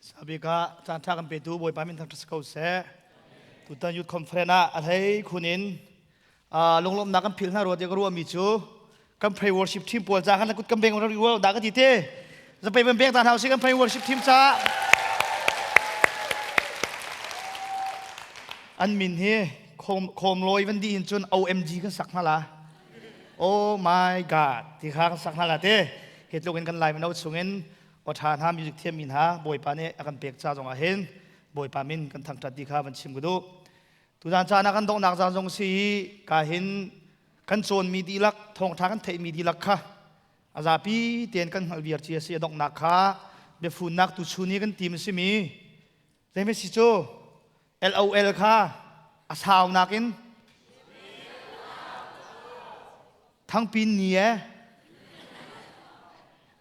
Sabik ah caan ṭha kan petu Bawipa min thang ṭha si ko seh. Tutan Youth Conference ah a hlei khun in lunglawmhnak kan phil hna rua tiah ka ruahmi cu kan pray worship team pawl ca kan kut kan beng rau rua da ka ti te zapei ban beng ta hna usih kan pray worship team ca an min hi khom loi van di hin cun OMG kan sak hna la oh my god ti kha kan sak hna la te hi tluk in kan lai mano chungin Awṭha hna music thiammi hna Bawipa nih a kan pek ca zongah hin Bawipa min kan thangṭhat ti kha van chim ka duh. Tutan caan ah kan donghnak caan zong si i ka hin kan cawnmi dihlak thawngṭha kan theihmi dihlak kha a zapi tein kan hngalh viar ci a si. A donghnak kha biafunnak tuchun i kan tim a simi Zeimasi cu LOL kha a saunak in thangpin ni e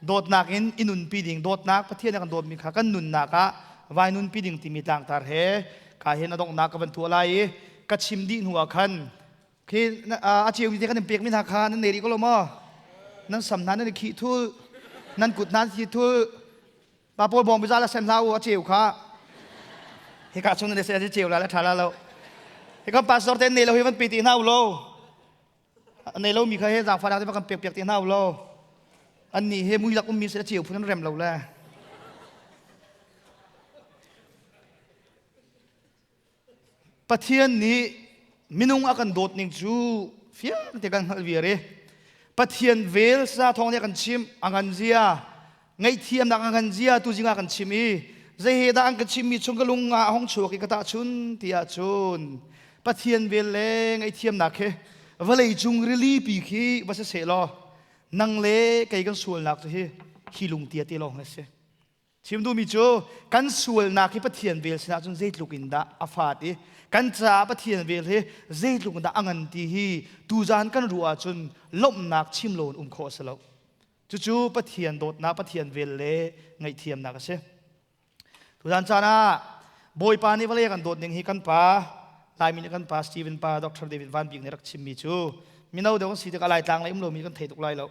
dawtnak in i nunpi ding dawtnak Pathian kan dawtmi kha kan nunnak ah vai nunpi ding timi tlangtar he ka hen adonghnak ka van thuah lai i ka chim dih hnu ah khan khi a ceu te kan in pekmi hna kha nan nei rih ko lo maw nan sam hna nan i khih thul nan kut nan thi thul pa pawl bawng bizal a sen hla u a ceu kha hika chung nan se ceu la la tha la lo hika pastor ten nei lo hi van pi ti hna u lo nei lo mi kha he zang fara te kan pek pek ti hna u lo an ni he mui lak um mi se ceu phun rem lo le Pathian nih minung a kan dawt ning cu fiang te kan hngalh viar i Pathian vel sa thawng nih a kan chimh a ngan zia ngaihthiamnak a ngan zia tu zingah kan chim i zei he dah an ka chimmi chung ka lung ah hong chuak i ka tahchun tiah cun Pathian vel le ngaihthiamnak he vawlei cung rilipi khi va si seh law nang le kei kan sualnak cu hi hi lungtia te lawng a si Chim duhmi cu kan sualnak hi Pathian vel sinah cun zeitluk in dah a fat i kan caah Pathian vel hi zeitluk in dah a ngan ti hi tuzan kan ruah ahcun lawmhnak chim lo in um khawh a si lo. Cucu Pathian dawtnak, Pathian vel le ngaihthiamnak a si. Tuzan caan ah Bawipa nih vawlei kan dawt ning hi kan pa Laimi nih kan pa Stephen pa Dr. David Van Bik nih rak chimmi cu mino deuh an si tikah Laitlang lei um lomi kan thei tuk lai lo.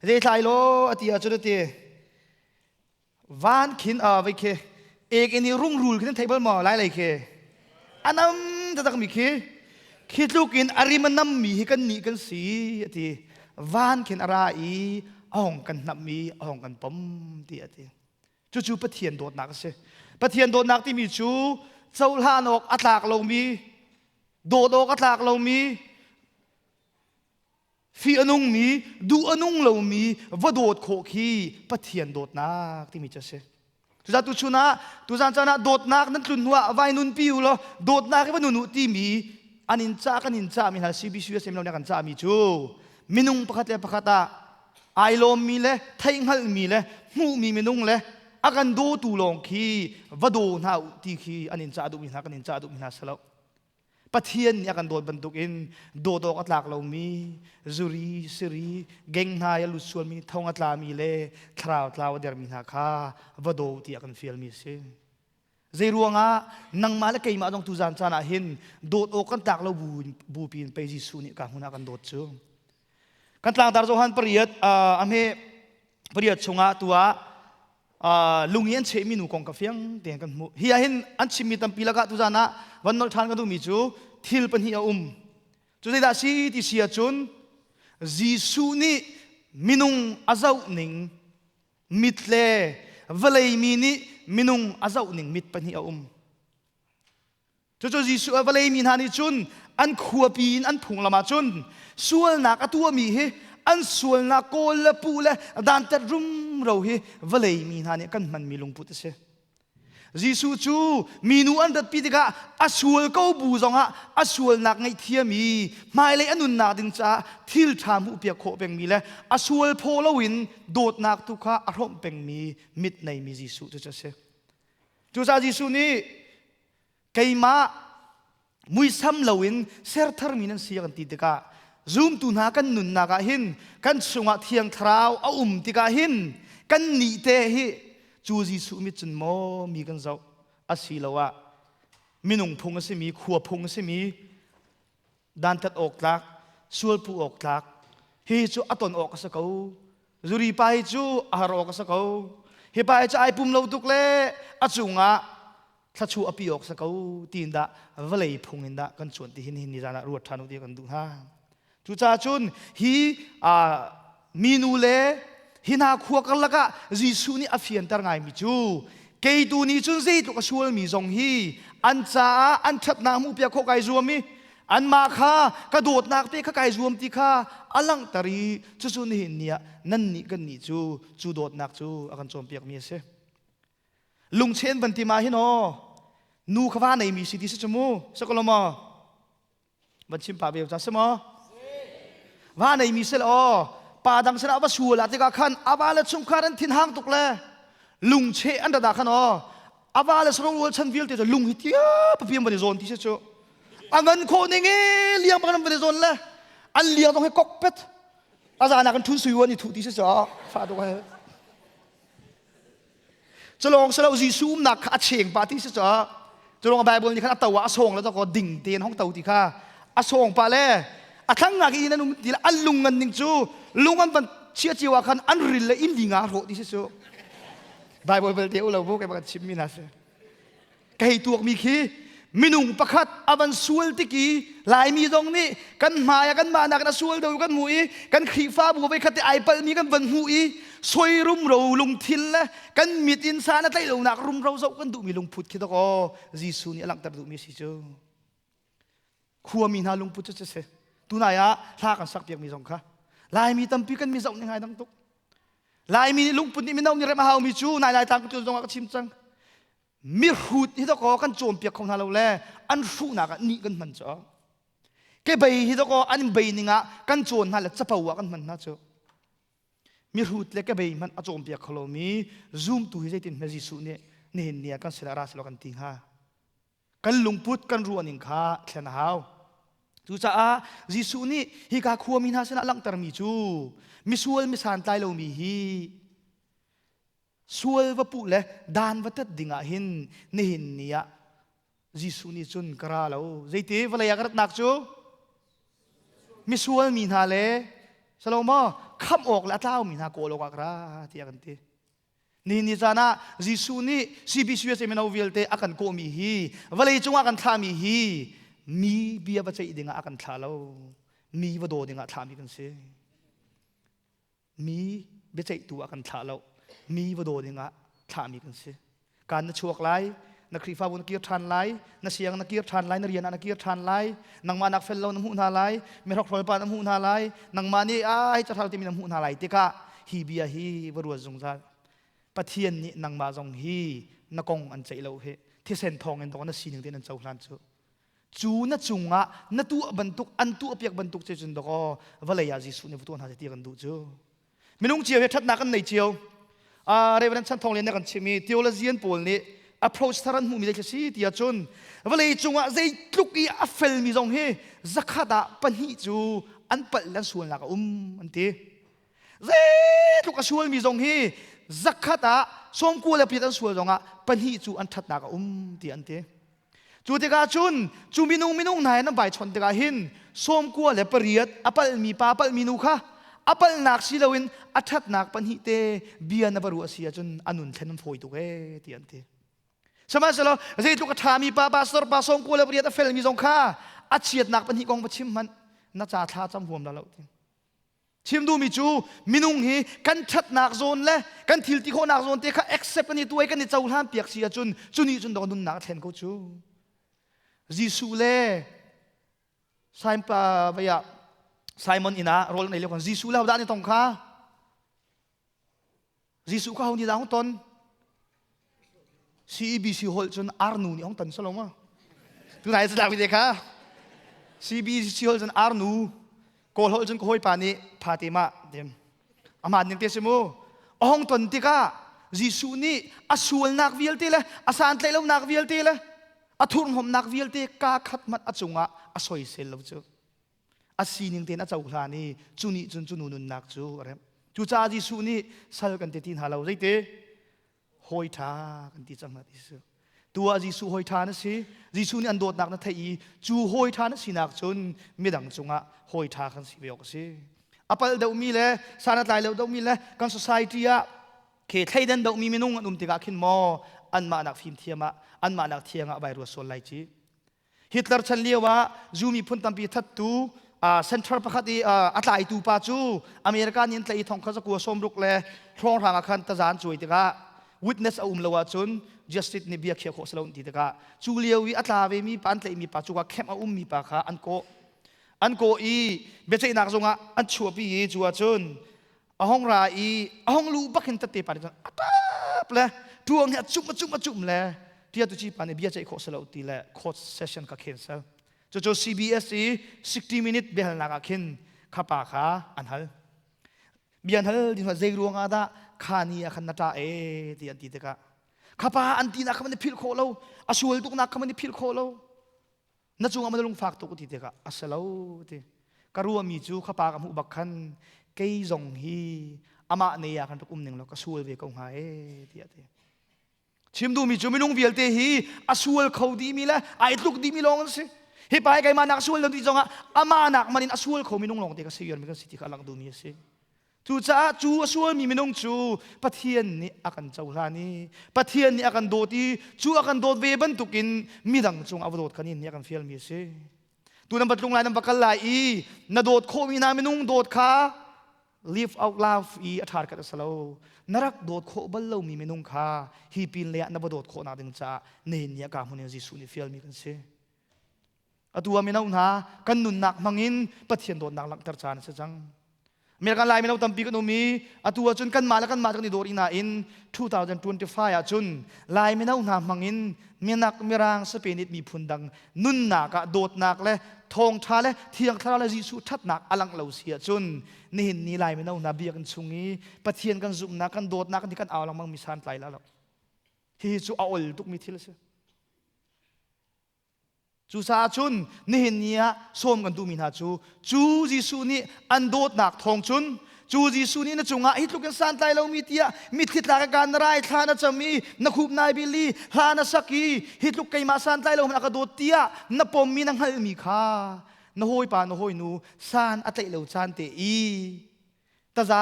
Zeitlai law a ti ahcun a ti van khin a vai khi ek in i rungrul khi nan thei bal maw lai lai khi anam taktak mi khi khi tluk in arim anam mi hi kan nih kan si ati van khin ara i ahong kan hnap mi ahong kan pom ti ati cu cu pathian dawtnak a si pathian dawtnak timi cu cohlan awk a tlak lomi dawt awk a tlak lomi Fi a nungmi, duh a nung lomi va dawt khawh khi Pathian dawtnak timi cu a si. Tuzan tu chun ah, tuzan caan ah dawtnak nan tlun hnu ah vai nunpi u law dawtnak i va nun u timi an in cah kan in cahmi hna CBCUS mino nih kan cahmi cu minung pakhat le pakhat ah ai lawmmi le theihhngalhmi le hmuhmi minung le a kan dawtu lawng khi va daw hna u ti khi an in cah duhmi hna kan in cah duhmi hna si lo. Pathian nih a kan dawt bantukin dawtawk a tlak lomi zuri, siri, genghna i a lut sualmi, thong a tlami le thlarau tlau a dermi hna kha va daw ti a kan fialmi a si. Zeiruangah nangmah le keimah zong tuzan caan ah hin dawt awk kan tlak lo bu, bupi in pei Jesuh nih ka hmun ah kan dawt cu. kan tlangtar zohan pariat uh, ahme pariat chungah tua uh, lungi an chehmi nu kong ka fiang tiang kan hmu hi ahin an chimmi tampi lakah tuzan ah van nol than ka duhmi cu thil pahnih a um cu zeidah si ti si ahcun Jesuh nih minung a zoh ning mit le vawlei mi nih minung a zoh ning mit pahnih a um Cucu Jesuh a vawlei mi hna nih cun an khuapi in an phunglam ah cun sualnak a tuahmi hi an sualnak kawl le puh le dantat rumro hi vawlei mi hna nih kan hmanmi lungput a si. Jesuh cu minu an ratpi tikah a sual ko bu zongah a sualnak ngaihthiami hmailei a nunnak ding caah thil ṭha hmuhpiak khawh pengmi le a sual phaw loin dawtnak tu kha a hrawmh pengmi mit neimi Jesuh cu a si. Cucaah Jesuh nih keimah muisam loin sertharmi nan si kan ti tikah zumtu hna kan nunnak ah hin kan chungah thiang thlarau a um tikah hin kan nih te hi cu Jesuh mit cun maw mi kan zoh asiloah minung phung a simi khua phung a simi dantat awk tlak sualphu awk tlak hi cu a ton awk a si ko zuri pa hi cu a har awk a si ko hi pa hi cu ai pum lo tuk le a cungah thlachu a pi awk si ko tiin dah vawlei phung in dah kan cuan ti hin hin ni zan ah ruat ṭhan u ti kan duh hna cucaah cun hi Minu le hi hna khua karlak ah Jesuh nih a fianter ngaimi cu kei tu nih cun zeitluk a sualmi zong hi an caah an ṭhatnak hmuhpiak khawh kai zuam i anmah kha ka dawtnak te kha kai zuam ti kha a langhter i cucu nihin ni ah nannih kannih cu cu dawtnak cu a kan cawnpiakmi a si lungchen van ti ma hi no nu kha va neimi si ti si cu mu sakalaw maw van chim pa ve ca si maw va nei mi se aw pa dang sinah va sual a tikah khan ava le chungkhar an thin hang tuk le lungche an dada khan aw ava le sarong rual chan vialte cu lung hi tia papiam van i zawn ti se chu a ngan kho ning e liang bang van i zawn le an liang dong he kok pet a zana kan thun sui wan i thu ti se chu fa dong he Culawng si lo Jesuh umnak kha a cheng pa ti si cah culawng Bible nih khan a to ah a sawng le ko ding tein hong to ti kha a sawng pa le a thlang ngak i nan um ti an lung ngan ning cu lung an van chia cio ah khan an ril le in dinga rawh ti si cu Bible belte u lo bu kai ba chim mi na si ka hei tuakmi khi minung pakhat a van sual tik i laimi zong nih kan hmai ah kanmah nakin a sual deuh kan hmuh i kan khrihfabu vei khat i ai palhmi kan van hmuh i soi rumro lungthil le kan mit in san a tlaih lonak rumro zoh kan duhmi lungput khi dok aw Jesuh nih a langhter duhmi si cu khuami hna lungput cu si tunai ah hla kan sak piakmi zong kha laimi tampi kan mi zoh ning ai dang tuk laimi nih lungput nih mino nih remh a haumi cu nai lai tlang tu zong ah ka chim cang mihrut hi dok aw kan cawnpiak kho hna lo le an hruhnak ah nih kan hman cu ke bei hi dok aw an in bei ning ah kan cawn hna le capo ah kan hman hna cu mihrut le ke bei hmanh a cawnpiak kho lomi zumtu hi zeitin hme Jesuh nih nihin ni ah kan sila ra silo kan ti hnga kan lungput kan ruahning kha thlen a hau cucaah Jesuh nih hi ka khuami hna sinah langhtermi cu misual misan tlai lomi hi sual va puh le dan va tat ding ah hin nihin ni ah Jesuh nih cun ka ra lo zeiti vawlei ah ka ratnak cu misual mi hna le Salomo kham awk le a tlaumi hna kawl awk ah ka ra tiah kan ti nihin ni caan ah Jesuh nih CBCUS mino vialte a kan kawhmi hi vawlei cungah kan thlahmi hi mi bia va ceih ding ah a kan thlah lo mi va daw ding ah thlahmi kan si mi biaceihtu ah kan thlah lo mi va daw dingah thlahmi kan si kan na chuak lai na khrifabu na kir ṭhan lai na siang na kir ṭhan lai na rian ah na kir ṭhan lai nangmah nak fel lo na hmuh hna lai mihrok hrualpa na hmuh hna lai nangmah nih ai cathal timi na hmuh hna lai tikah hi bia hi va ruat zungzal pathian nih nangmah zong hi na kong an ceih lo hi thisen thawng in dawna sining te nan cohlan cu cu na cungah na tuah bantuk an tuahpiak bantuk cu cun dakaw vawlei ah Jesuh nih tuah hna seh ti kan duh cu minung cio he ṭhatnak kan nei cio uh, Reverend Chan Thawng Lian nih a kan chimh i theologian pawl nih approach thar an hmuhmi zei thil si tiah cun vawlei cungah zeitluk i a felmi zong hi zakhat ah pahnih cu an palh an sualnak a um an ti zeitluk a sualmi zong hi zakhat ah sawmkua le pit an sual zongah pahnih cu an ṭhatnak a um ti an ti Cu tikah cun cu minung minung hna he nan vaichon tikah hin sawmkua le pariat a palhmi pa palhmi nu kha a palhnak si loin a ṭhatnak pahnih te bia na va ruah si ahcun a nun thlen fawi tuk ee ti an ti. Sihmanhsehlaw zeitluk a ṭhami pa pastor pa sawmkua le pariat a felmi zong kha a chiatnak pahnih kong va chim hmanh na ca thla cam huam la lo ti. chim duhmi cu minung hi kan ṭhatnak zawn le kan thil ti khawhnak zawn te kha accept an i tuai kan i cohlan piak si ahcun cu nih cun dawt nunnak a thlen ko cu Jesuh le Simon vaya Simon inn ah rawl an ei lio khan Jesuh le hodah an i tong kha Jesuh kha honi dang ton CEBC hol cun arnu nih ong ton soloma tunai sa dang te kha CEBC hol cun arnu kawl hol cun kawi pa nih phate ma dem aman ning te simu ong ton tikah Jesuh nih a sualnak vialte le a santlaihlonak vialte le a thurhnomnak vialte ka khat mat a cungah a soisel lo cu a sining tein a cohlan i cu nih cun cu nu nunnak cu a remh cucaah Jesuh nih sal kan ti ti hna lo zeite hawi ṭha kan ti cang hna Jesuh tu ah Jesuh hawi ṭha na si Jesuh nih an dawtnak na theih i cu hawi ṭha na sinak cun midang cungah hawi ṭha kan si ve awk a si a palh deuhmi le sanatlai lo deuhmi le kan society ah khe thleidan dohmi minung an um tikah khin maw anmah nak fimthiam ah anmah nak thiang ah vai ruat sual lai ci Hitler chan lio ah zu miphun tampi thattu center pakhat i a tlaitu pa cu America nih an tlaih i thong kha zakua sawmruk le thlawrhrang ah khan tazaan cuai tikah witness a um lo ahcun justice nih bia khiah khawh si lo ti tikah cu lio i a tla vemi pa an tlaihmi pa cu camp a ummi pa kha an kawh an kawh i biaceihnak zungah an chuahpi i cu ahcun a hong ra i a hong lu bak hin tate pa nih cun a tap le tuang hi a cum a cum a cum le tia tu ci pa nih bia ceih khawh si lo ti le court session ka cancel cucu CBS i 60 minute biahalnak ah khin kha pa kha an hal bian hal ding zei ruang ah dah kha ni ah khan na ta e ti an ti tikah khapa an ti nak kha man i philh khawh lo a sual tuk nak kha man i philh khawh lo na cungah na lung fak tuk ti tikah a si lo ti ka ruami cu ka pa ka hmuh bak khan kei zong hi amah ne ah kan rak um ning lo ka sual ve ko hnga e tiah ti chim duhmi cu minung vialte hi a sual kho dimi le a itluk dimi lawng an si hi pai keimah nak sual lo ti zongah amah nak man in a sual kho minung lawng te ka si yuan mi kan si ti kha a lang duhmi a si Cucaah cu a sualmi minung cu Pathian nih a kan cohlan i Pathian nih a kan dawt i cu a kan dawt ve bantukin midang cungah va dawt kan in nih a kan fialmi a si. Tu nan va tlung lai nan va kal lai i na dawt khawhmi hna minung dawt kha live out love i a ṭharkhat a si lo. Na rak dawt khawh bal lomi minung kha hi pin leiah na va dawt khawhnak ding caah nihin ni ah ka hmun in Jesuh nih fialmi kan si. atu ah mino hna kan nunnak hmangin Pathian dawtnak langhter caan a si cang American kan lai mino tampi kan um i atu ah cun kanmah le kanmah kan i dawr i nain 2025 ah cun lai mino hna hmangin minak mirang sapenit miphun dang nunnak ah dawtnak le thawngtha le thiang thlarau le Jesuh thatnak alang lo si ahcun nihin ni lai mino hna biakinn chung i Pathian kan zumhnak kan dawtnak kan kan au langmang mi san tlai la lo hihi cu a ol tukmi thil a si Cucaah cun nihin ni ah sawm kan duhmi hna cu cu Jesuh nih an dawtnak thawng cun cu Jesuh nih na cungah hi tluk in santlai lomi tiah mitthli tla ka kaan na rai thla na cam i na khup nai bil i hla na sak i hi tluk keimah santlai lo a ka dawt tiah na pommi na hngalhmi kha na hawipa na hawinu san a tlaih lo caan te i taza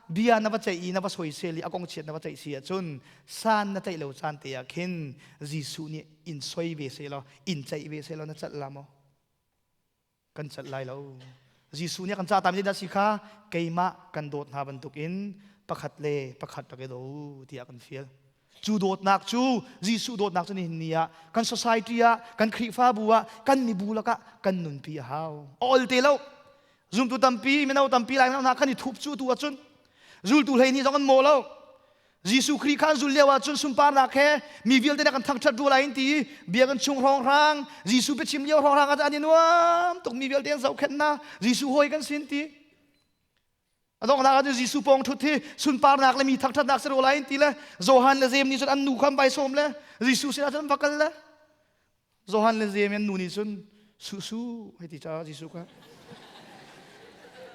bia na va ceih i na va soisel i a kong chiat na va ceih si ahcun san na ceih lo caan te ah khin Jesuh nih in soi ve se law in ceih ve se law na celh la maw kan celh lai lo Jesuh nih a kan ca tami dah si kha keimah kan dawt hna bantukin pakhat le pakhat rak i do tiah kan fial Cu dawtnak cu Jesuh dawtnak cu nihin ni ah kan society ah kan Khrihfabu ah kan mibu lakah kan nunpi a hau. A ol te lo. Zumtu tampi, mino tampi lai hna kan i thup cu tu ahcun zultu hlei nih zong an maw lo. Jesuh Khrih kha an zul lio ahcun sunparnak he mi vialte nih kan thangṭhat rua lai in ti i biakinn chung hrawnghrang, Jesuh biachim lio hrawnghrang ah an i nuam tuk mi vialte an zohkhenhnak, Jesuh hawi kan sin ti. A donghnak ah Jesuh pawng thut hi sunparnak le mi thakṭhatnak si ro lai in ti le Johan le Zem nih cun an nu kha an bai sawm le Jesuh sinah cun va kal le Johan le Zem an nu nih cun susu hei ti ca Jesuh kha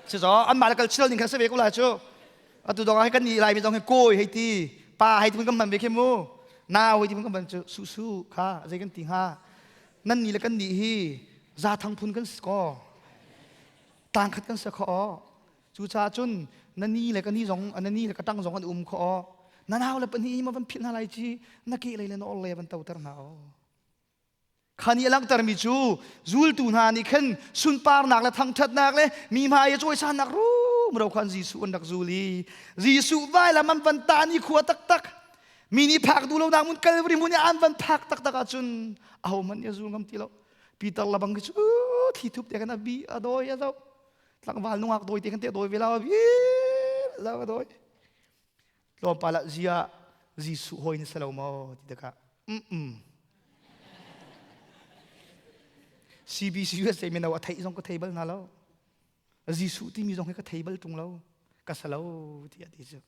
cucaah anmah le kal chil ning khan si ve ko lai cu atu dong ah kan ni lai mi zong hi kawi hei ti pa hei ti kan man ve khi mu nau hei ti kan man cu susu kha zei kan ti hnga nan ni le kan ni hi za thang phun kan si kaw Tangkhat kan si kho aw. Cucaah cun na ni le ka ni zong na ni le ka tang zong an um kho aw. Na nau le pahnih ma van philh hna lai ci na ke lei le na orle van toter hna aw. Kha ni a langhtermi cu zultu hna nih khan sunparnak le thangṭhatnak le mi hmai i cawisannak rum ro khan Jesuh an rak zul i Jesuh vailam an van ta ni khua taktak mi nih phak duh lonak mun kalvri mun i an van phak taktak ahcun ahohmanh nih a zul ngam ti lo Peter la bang cu thli thup te kan a bi a doi a zo tlangval nungak doi te kan te doi ve la bi la a doi tlawm pa la zia Jesuh hoi ni selo mo ti taka mm mm CBC USA men a thei zong ka thei bal na lo Jesuh timi zong he ka thei bal tung lo ka sa lo ti a ti cu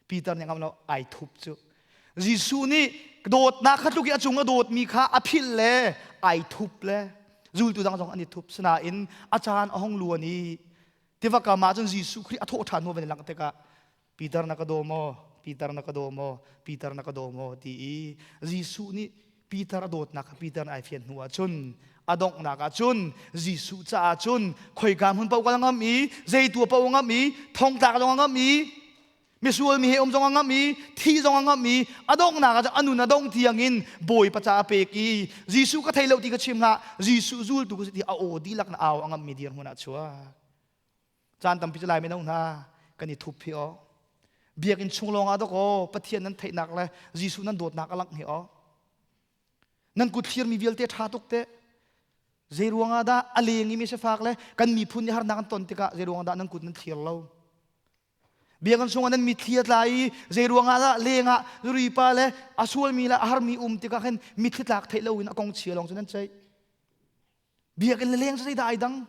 Peter nih ngam lo ai thup cu Jesuh nih dawtnak kha tluk i a cung a dawtmi kha a philh le ai thup le zultu dang zong an i thup sinain a caan a hong luan i tiva kam ah cun Jesuh Khrih a thawh ṭhan hnu van i langh tikah Peter na ka daw maw Peter na ka daw maw Peter na ka daw maw ti i Jesuh nih Peter a dawtnak kha Peter nih ai fian hnu ah cun a donghnak ah cun Jesuh caah cun khoika hmun paoh kal ngam i zeitua paoh a ngam i thongtlak zong a ngam i misual mi he um zong a ngam i thi zong a ngam i a donghnak ah cun a nun a dong tiang in bawipa ca a pek i Jesuh ka thei lo ti ka chim hlah Jesuh zultu ka si ti a aw dihlak na au a ngammi dir hmun ah chuak caan tampi cu lai mino hna kan i thup hi aw biakinn chung lawng ah dok aw pathian nan theihnak le jesuh nan dawtnak a langh hi aw nan kut thlirmi vialte ṭha tuk te zei ruang ah dah a leng i mi si fak le kan miphun i harnak an ton tikah zei ruang ah dah nan kut nan thir lo biakinn chung ah nan mitthli a tla i zei ruang ah dah leng ah ripa le a sualmi le a harmi um tikah khin mitthli tlak theih lo in a kong chia lawng cu nan ceih biakinn le leng zeidah ai dang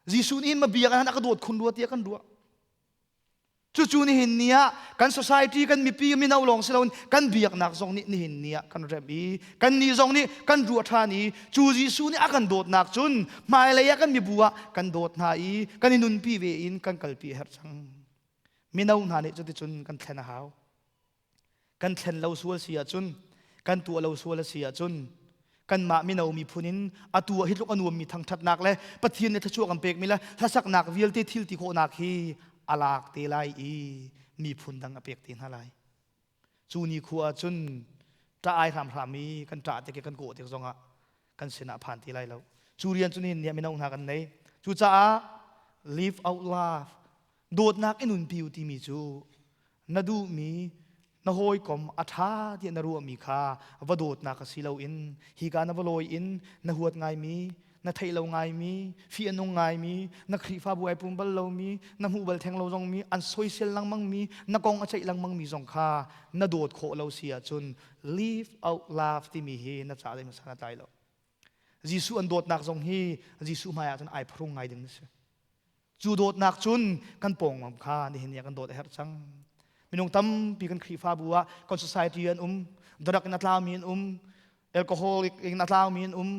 Jesuh nih ma biakinn han a ka dawt khun rua tiah kan ruah cucu nihin ni ah kan society kan mipi mino lawng si loin kan biaknak zong nih nihin ni ah kan rem i kan ni zong nih kan ruah ṭhan i cu Jesuh nih a kan dawtnak cun hmailei ah kan mibu ah kan dawt hna i kan i nunpi ve in kan kalpi a herh cang mino hna nih cuticun kan thlen a hau kan thlen lo sual si ahcun kan tuah lo sual a si ahcun kanmah mino miphun in atu ah hi tluk a nuammi thangṭhatnak le pathian nih thluachuah kan pekmi le hlasaknak vialte thil ti khawhnak hi a lak te lai i miphun dang a pek te hna lai cu ni khua ahcun ṭah ai hram hram i kan ṭah te ke kan kawh te zongah kan sinah a phan ti lai lo. Cu rian cu nihin ni ah mino hna kan nei. Cucaah live out love, dawtnak i nunpi u timi cu na duhmi, na hawikom a ṭha tiah na ruahmi kha va dawtnak si loin hika na va lawi in na huat ngaimi, na theih lo ngaimi, fi a nung ngaimi, na Khrihfabu ai pum bal lomi, na hmuh bal theng lo zongmi, an soisel lengmangmi, na kong a ceih lengmangmi zong kha na dawt khawh lo si ahcun live out love timi hi na caah zeihmanh sana tlai lo Jesuh an dawtnak zong hi Jesuh hmaiah cun ai phrung ngai ding na si cu dawtnak cun kan pawngmam kha nihin ni ah kan dawt a herh cang minung tampi kan Khrihfabu ah kan society an um darak in a tlami an um alcoholic in a tlaumi an um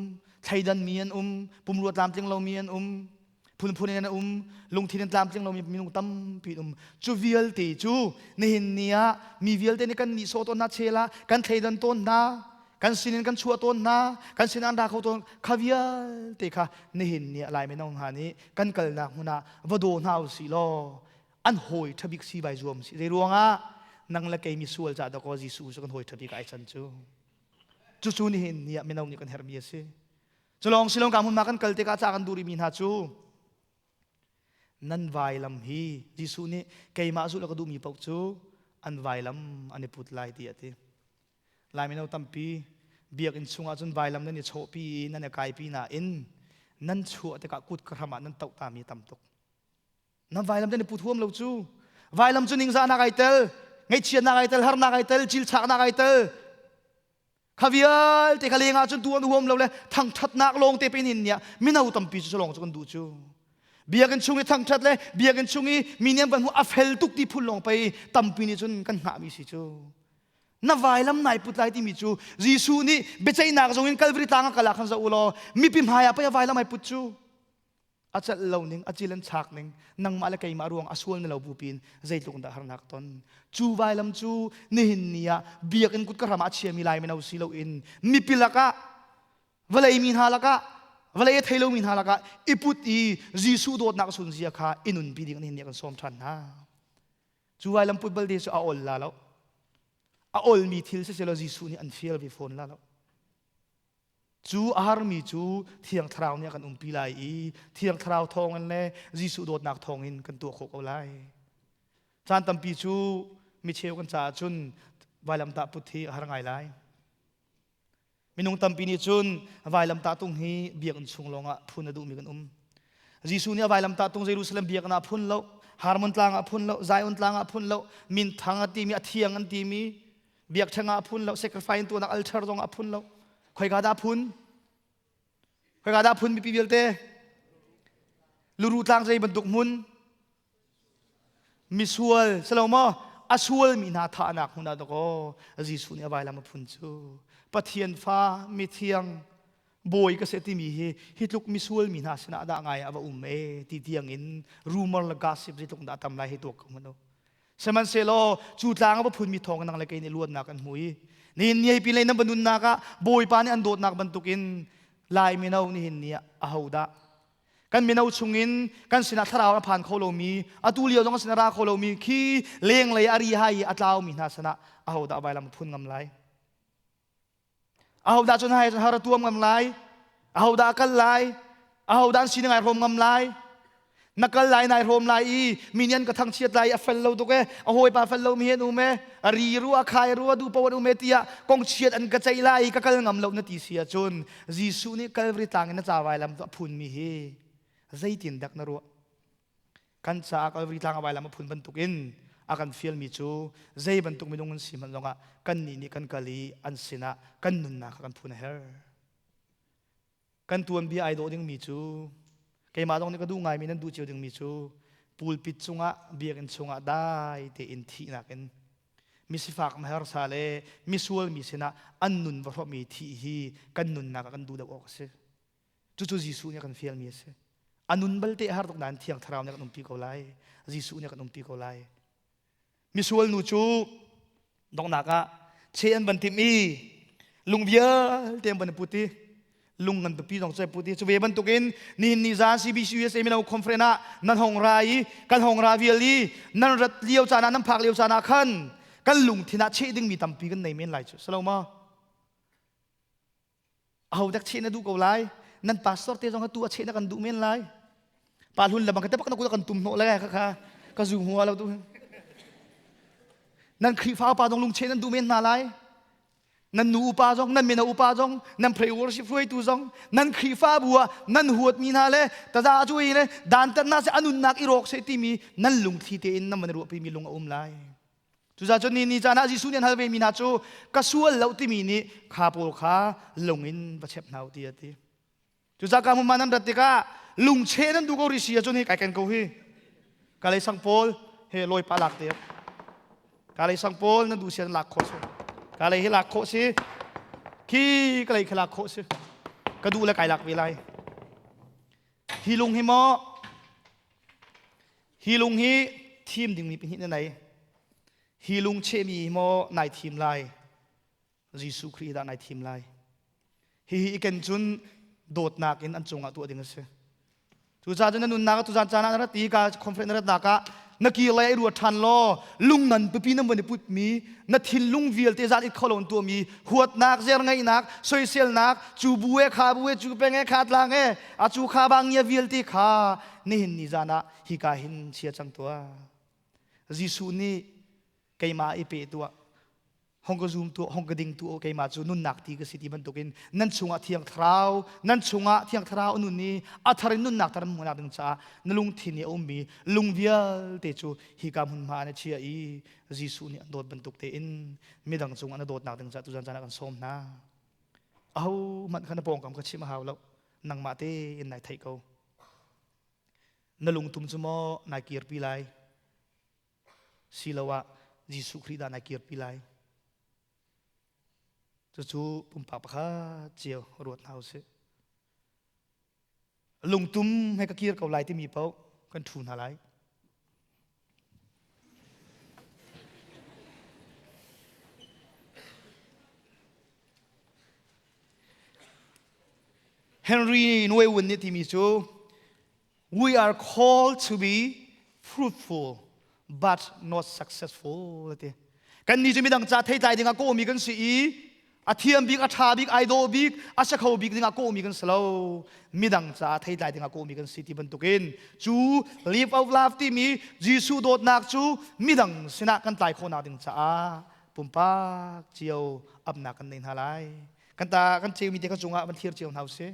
thleidanmi an um pumrua tlamtling lomi an um phunphun in an um lungthin in tlamtling lomi minung tampi an um cu vialte cu nihin ni ah mi vialte nih kan nihsawh tawn hna chela kan thleidan tawn hna kan sinin kan chuah tawn hna kan sin an ra kho tawn kha vialte kha nihin ni ah lai menong hna nih kan kalnak hmun ah va daw hna u si law an hawi ṭhabik si bai zuam si zei ruangah nang le kei misual ca da ko Jesuh cu kan hawi ṭhabik ai chan cu cucu nihin ni ah mino nih kan herhmi a si Culawng Shillong ka hmun ma kan kal tikah ca kan duh rihmi hna cu nan vailam hi Jesuh nih keimah zulh ka duhmi paoh cu an vailam an i put lai ti a ti. Lai mino tampi biakinn chungah cun vailam nan i chawhpi i nan i kaipi nain nan chuah tikah kut ka hram ah nan toh tami tam tuk. Nan vailam te ni put huam lo cu vailam cu ningzahnak ai tel, ngaihchiatnak ai tel, harnak ai tel, cilchaknak ai tel, kha vialte kha leng ahcun tu an huam lo le thangthatnak lawng te pe in nia mino tampi cu lawng cu kan du cu biakinn chung i thangthat le biakinn chung i mi niam kan hu a fel tuk ti phun lawng pei tampi nih cun kan hngah mi si cu na vailam nai put lai timi cu Jesuh nih biaceihnak zong in Kalvari tlang ah kala khan za u law mipi hmaiah pei a vailam ai put cu a celh lo ning a cil an chak ning nangmah le keimah ruang a sual na lo bu pin zeitluk in dah harnak ton cu vailam cu nihin ni ah biakinn kut ka hram ah chiami lai mino si lo in mipi lakah vawlei mi hna lakah vawlei a thei lomi hna lakah i put i Jesuh dawtnak sun zia kha i nunpi ding nihin ni kan sawm ṭhan hna cu vailam put balte cu a ol la lo a olmi thil siselo Jesuh nih an fial ve fawn la lo Cu a harmi cu Thiang Thlarau nih a kan umpi lai i Thiang Thlarau thawngin le Jesuh dawtnak thawngin kan tuah khawh ko lai. Caan tampi cu micheu kan caah cun vailamtah put hi a har ngai lai. Minung tampi nih cun vailamtah tung hi biakinn chung lawngah phun a duhmi kan um. Jesuh nih a vailamtah tung Jerusalem biakinn ah phun lo, Harmon tlang ah phun lo, Zion tlang ah phun lo, minthang a timi, a thiang an timi, biakṭheng ah a phun lo sacrifice tuanak altar zong a phun lo khoika dah phun khoika dah phun mipi vialte luru tlang zei bantuk hmun misual salomaw a sualmi hna thahnak hmun ah dakaw Jesuh nih a vailam a phun cu Pathian fa mithiang bawi ka se timi hi hi tluk misual mi hna sinah dah ngai a va um e ti tiang in rumor le gossip zi tluk dah tam lai hi tuak ko hmano Sihmanhsehlaw cu tlang a va phunmi thawng nang le kei nih luatnak an hmui. Nihin niai pi lei nan va nunnak ah Bawipa nih an dawtnak bantukin Lai mino nihin ni ah ahodah kan mino chungin kan sinah thlarau a phan kho lomi atu lio zong sinah ra kho lomi khi lenglei a ri hai i a tlaumi hna sinah ahodah vailam a phun ngam lai ahodah cun hai har tuam ngam lai ahodah kal lai ahodah an sining ai hlawm ngam lai na kal lai nai hlawm lai i minian ka thang chiat lai a fel lo tuk e a hawipa fel lo mi hen um e a ri ru a khai ru a du po an um e tiah kong chiat an ka ceih lai i ka kal ngam lo na ti si cun Jesuh nih Calvary tlang in na ca vai lam tu a phun mi hi zeitin dak na ruah kan caah Kalvari tlang a vailam a phun bantuk in a kan fialmi cu zei bantuk minung an si hmanh zongah kannih nih kan kal i an sinah kan nunnak kha kan phun a her kan tuanbia ai dawh dingmi cu keimah zong nih ka duh ngaimi nan duh cio dingmi cu pulpit cungah biakinn chungah dai tein thihnak in misifak mahersa le misual mi sinah an nun va hrawhmi thih hi kan nunnak ah kan duh deuh awk a si Cucu Jesuh nih a kan fialmi a si. A nun balte a har tuk nain thiang thlarau nih a kan umpi ko lai. Jesuh nih a kan umpi ko lai. Misual nu cu donghnak ah che an van timh i lung vialte an van put i lung ngan pipi zong cu a put i cu ve bantukin nihin ni zan CBC-USA mino conference ah nan hong ra i kan hong ra vial i nan rat lio caan ah nan phak lio caan ah khan kan lungthin ah cheh dingmi tampi kan nei men lai cu. Salo ma? ahodak cheh na duh ko lai nan pastor te zong ka tu a cheh na kan duh men lai pa hlun lamang ka tepak na kula kan tum hnawh lai ka kha ka zu hua lo tu nan khrifa pa zong lungche nan duh men hna lai nan nu upa zong nan mena upa zong nan pray worship hruai tu zong nan khrifa bua nan huat mi hna le taza chu le dan tan na se anun nak i rok se timi nan lungthli te in nan man ruah pi mi lung a um lai Cuzacun ni ni caan ah Jesuh nih an hal vemi hna cu ka sual lo timi nih kha pawl kha lung in va chep hna u ti a ti. Cucaka hmun man an rat tikah lungche nan du ko risi ahcun hi kai ken ko hi kalei sang pawl he lawi pa lak te kalei sang pawl nan du si nan lak khawh si kalei hi lak khawh si khi kalei khi lak khawh si ka duh le kai lak ve lai Hi lung hi maw hi lung hi thim dingmi pahnih na nei hi lung chehmi maw nai thim lai Jesuh Khrih dah nai thim lai hihi i ken cun dawtnak in an cungah tuah ding a si cucaah cun na nunnak tu zan caan ah na rat i ka conference na rat nak ah na ki lai ai rua ṭhan law lung ngan pipi na mun i putmi na thinlung vialte zan it kho lo tuam i huatnak zer ngaihnak soiselnak cu bu e kha bu e cu peng e kha tlang e a cu kha bangia vialte kha nihin ni zan ah hika hin chia cang tua Jesuh nih keimah i pe tuah hong ka zoom tu hong ka ding tu keimah cu nunnak ti ka si ti bantukin nan chungah thiang thlarau nan chungah thiang thlarau nun i a thar in nunnak tar hmuhnak ding caah na lungthin i a ummi lung vialte cu hi ka hmun hma na chia i Jesuh nih a dawt bantuk tein midang cungah na dawtnak ding caah tuzan caan ah kan sawm hna aho hmanh kha na pawngkam ka chim a hau lo nangmah te in nai theih ko na lungtum cu maw nai kirpi lai siloah Jesuh Khrih dah na kirpi lai. Cucu pumpak pakhat cio ruat hna usih. Lungtum he ka kir ko lai timi paoh kan thu hna lai. Henry Nuewun nih timi cu We are called to be fruitful but not successful ati. Kan ni cu midang ca theitlai dingah kawmi kan si i a thiam bik a tha bik ai daw bik a sakho bik dingah kawmi kan si lo midang ca theitlai dingah kawmi kan si ti bantukin cu live of love timi Jesuh dawtnak cu midang sinah kan tlai khawhnak ding caah pumpak cio apnak kan nei hna lai kan ta kan ceu mi te ka cungah van thlir cio hna usih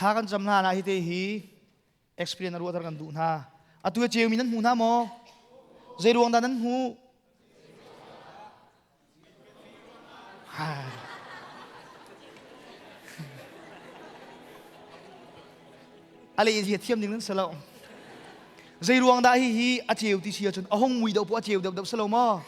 Thla kan cam hna na hi te hi experience ruah kan duh hna. Atu ke ceu mi nan hmu hna maw? Zei ruang dah nan hmu? Ha. a le hi thiam ding nan si lo zei ruang dah hi hi a ceu ti si ahcun a hong mui deuh pawh a ceu deuh deuh si lo maw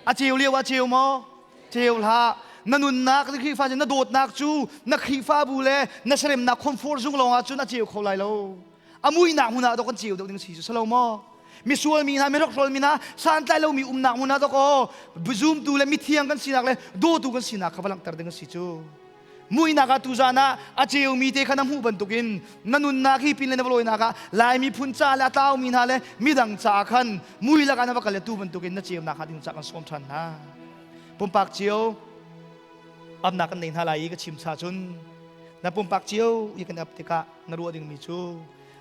a ceu lio a ceu maw ceu hlah na nunnak na khrihfa na dawtnak cu na khrihfabu le na seremnak comfort zung lawngah cun a ceu kho lai lo a muinak hmun ah dok an ceu deuh ding si cu si lo maw misual mi hna mirak hrol mi hna santlai lo mi umnak hmun ah dok aw zumtu le mithiang kan sinak le dawtu kan sinak kha va langhter ding si cu muihnak ah tuzan ah a ceumi te kha na hmuh bantukin na nunnak hi pin le na valawinak ah laimi phun ca le a tlaumi hna le midang caah khan mui lakah na va kal le tu bantukin na ceunak hnga ding ca kan sawm ṭhan hna pumpak cio amnak kan nei hna lai i ka chim cha cun na pumpak cio i kan ap tikah na ruah dingmi cu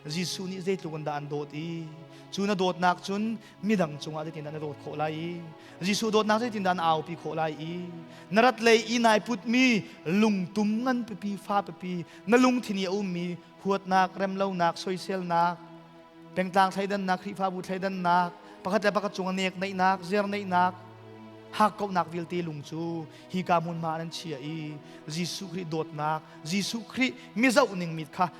Jesuh nih zeitluk in dah an dawt i cu na dawtnak cun midang cungah zeitindah na dawt khawh lai i Jesuh dawtnak zeitindah na aupi khawh lai i na rat lei i nai putmi lungtum ngan pipi fa pipi na lungthin i a ummi huatnak remlonak soiselnak pengtlang thleidannak Khrihfabu thleidannak pakhat le pakhat cung nek neihnak zer neihnak hakkauhnak vialte lung cu hi ka hmunhma an chiah i Jesuh Khrih dawtnak Jesuh Khrih mi zohning mit kha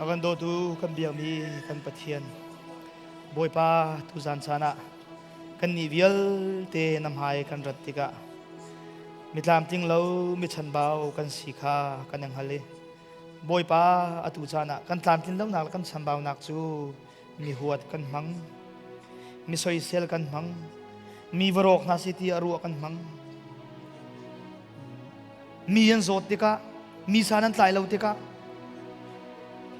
A kan dawtu kan biakmi kan Pathian Bawipa tuzan chan ah kannih vialte na hmai kan rat tikah mitlamtling lo michanbau kan si kha kan i hngal i Bawipa atu caan ah kan tlamtlin lonak le kan chambaunak cu mi huat kan hmang mi soisel kan hmang mi varawk hna si ti a ruah kan hmang mi an zawt tikah mi sa nan tlai lo tikah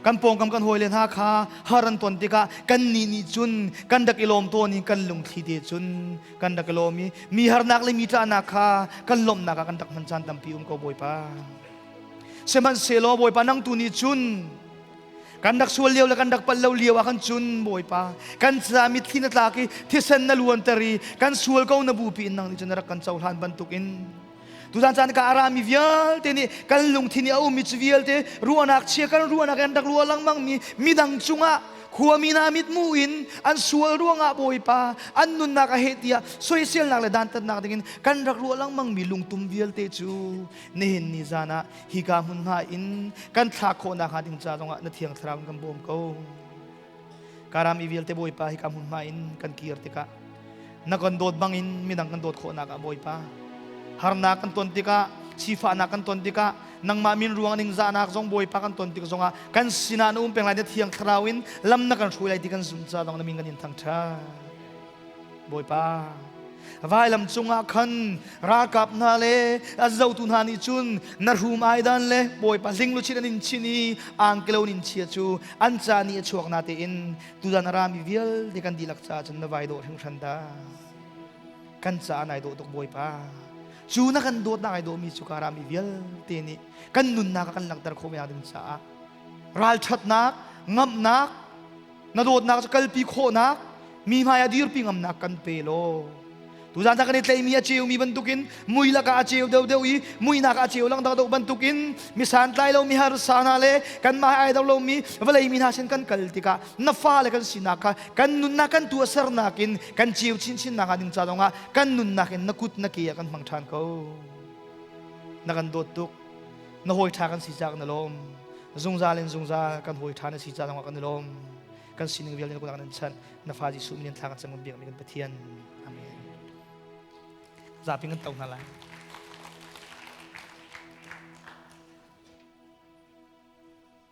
kan pawngkam kan hawi le hna kha haran ton tikah kan ni ni cun kan dak i lawm to ni kan lungthli te cun kan dak i lawm i mi harnak le mi tlahnak kha kan lawmnak ah kan dak hman caan tampi um ko bawipa sehmanhsehlaw bawipa nang tu ni cun kan rak sual lio le kan rak pal lo lio ah khan cun bawipa kan ca mitthli na tlak i thisen na luanter i kan sual ko na bupi in nang nih cun na rak kan cohlan bantukin tutan caan ka arami vialte nih kan lungthin i a ummi cu vialte ruahnak chia kan ruahnak an rak ruah lengmangmi midang cungah khuami hna mitmu in an sual ruangah bawipa an nunnak a heh tiah soiselnak le dantatnak dingin kan rak ruah lengmangmi lungtum vialte cu nihin ni zan ah hika hmun hna in kan thlah khawhnak hnga ding ca zongah na thiang thlarau in kan bawm ko karam i vialte bawipa hika hmun hma in kan kir tikah na kan dawt bangin midang kan dawt khawhnak ah bawipa harnak kan ton tikah sifahnak kan ton tikah nangmah min ruang ning zahnak zong bawipa kan ton tik zongah kan sinah na um peng lai na thiang thlarau in lam na kan hruai lai ti kan zum ca zong na min kan in thangṭha Bawipa vailam cungah khan ralkap hna le a zotu hna nih cun na rum ai dan le Bawipa hlingluchin an in chin i angkelo in chia cu an ca ni a chuak na tein tudan a rami vialte kan dihlak caah cun na vai dawh hringhran da kan caah nai dawh tuk Bawipa cu na kan dawtnak ai dawhmi cu ka rami vialte nih kan nunnak a kan langhter khawh men ding caah ralṭhatnak ngamhnak na dawtnak cu kalpi khawhnak mi hmaiah dirpi ngamnak kan pe law tuzan ta kan i tleimi a ceumi bantukin mui lakah a ceu deuhdeuh i muinak a ceu langdang deuh bantukin mi santlai lo mi harsa hna le kanmah ai do lomi vawlei mi hna sin kan kal tikah na fale kan sinak kha kan nunnak kan tu a sernak in kan ceu chinchinnak ah ding ca zongah kan nunnak in na kut na ke ah kan hmang ṭhan ko na kan dawt tuk na hawi ṭha kan si caah kan i lawm zungzal in zungzal kan hawi ṭha na si caah kan i lawm kan sining vialte na kunak nan chanh na fa Jesuh min in thla kan cang kan biak mi kan Pathian amen zapi kan to hna lai